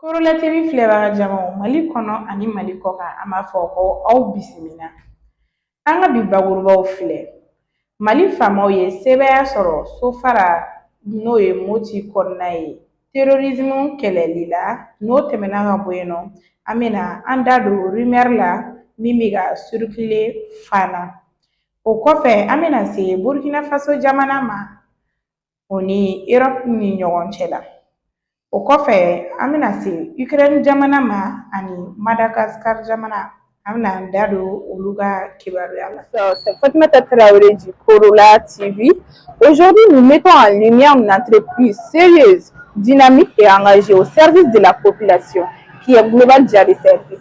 Korola TV filɛbaga jamaw mali kɔnɔ ani mali kɔkan an b'a fɔ ko aw bisimila an ka bi bakurubaw filɛ mali faamaw ye sebaaya sɔrɔ sofara n'o ye moti kɔnɔna ye terrorisme kɛlɛli la n'o tɛmɛna ka bɔ yen nɔ an bɛna an da don rumeur la min bɛ ka circuler fana O kɔfɛ an bɛna se Burkina Faso jamana ma o ni Erɔpu ni ɲɔgɔn cɛ la. O kɔfɛ an bɛna se Ukraine jamana ma ani Madagascar jamana an bɛna an da don olu ka kibaruya la. Fatumata Traoré du Korola TV. Aujourd'hui, nous mettons en lumière une entreprise sérieuse, dynamique et engagée au service de la population qui est Global Dia de service.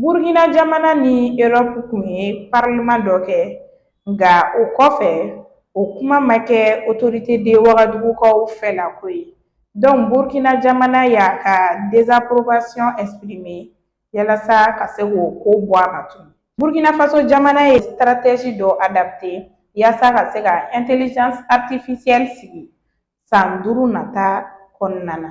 burukina jamana ni erɔpu kun ye parleman dɔ kɛ nka o kɔfɛ o kuma ma kɛ otorite de wagadugukaw fɛ la ko ye dɔnku burukina jamana y'a ka dezaporobasiyɔn ɛsipirime yalasa ka se k'o ko bɔ a ma tun burukina faso jamana ye stratégie dɔ adapte yasa ka se ka intelligence artificielle sigi san duuru nata kɔnɔna na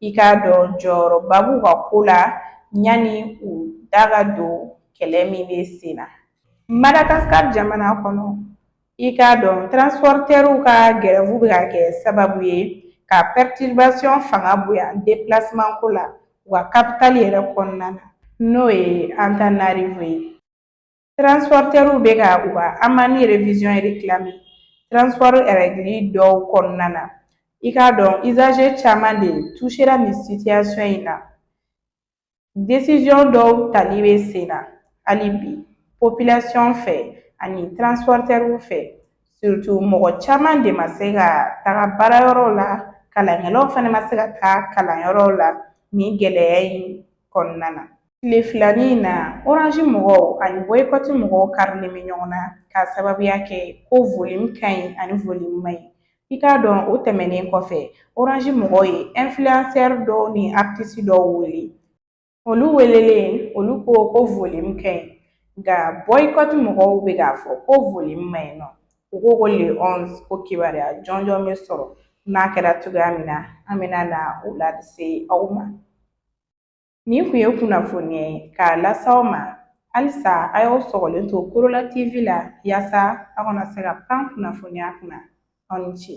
i k'a dɔn jɔyɔrɔba b'u ka ko la yanni u da ka don kɛlɛ min bɛ sen na madagasikari jamana kɔnɔ i k'a dɔn transportɛriw ka gɛrɛfu bɛ ka kɛ sababu ye ka perturbation fanga bonya déplacement ko la u ka capitale yɛrɛ kɔnɔna na n'o ye Antananarivo ye Transporteurs bɛ ka u ka amani révision réclamer transport règle dɔw kɔnɔna na i k'a dɔn usagers caman de touchera nin situation in na décision dɔw tali bɛ sen na hali bi population fɛ ani transporteurs fɛ surtout mɔgɔ caman de ma se ka taga baarayɔrɔw la kalankɛlaw fana ma se ka taa kalanyɔrɔw la nin gɛlɛya in kɔnɔna na Tile filanin in na Orange mɔgɔw ani bɔyikɔti mɔgɔw karilen bɛ ɲɔgɔn na k'a sababuya kɛ ko volume ka ɲi ani volume man ɲi i k'a dɔn o tɛmɛnen kɔfɛ Orange mɔgɔw ye influenceur dɔw ni artiste dɔw wele olu welelen olu ko ko volume ka ɲi nka bɔyikɔti mɔgɔw bɛ k'a fɔ ko volume man ɲi nɔ u ko ko le onze ko kibaruya jɔnjɔn bɛ sɔrɔ n'a kɛra cogoya min na an bɛna na o lase aw ma Nin kun ye kunnafoni ye k'a lase aw ma halisa a y'aw sɔgɔlen to korola tv la yaasa a kana se ka pan kunnafoniya kunna aw ni ce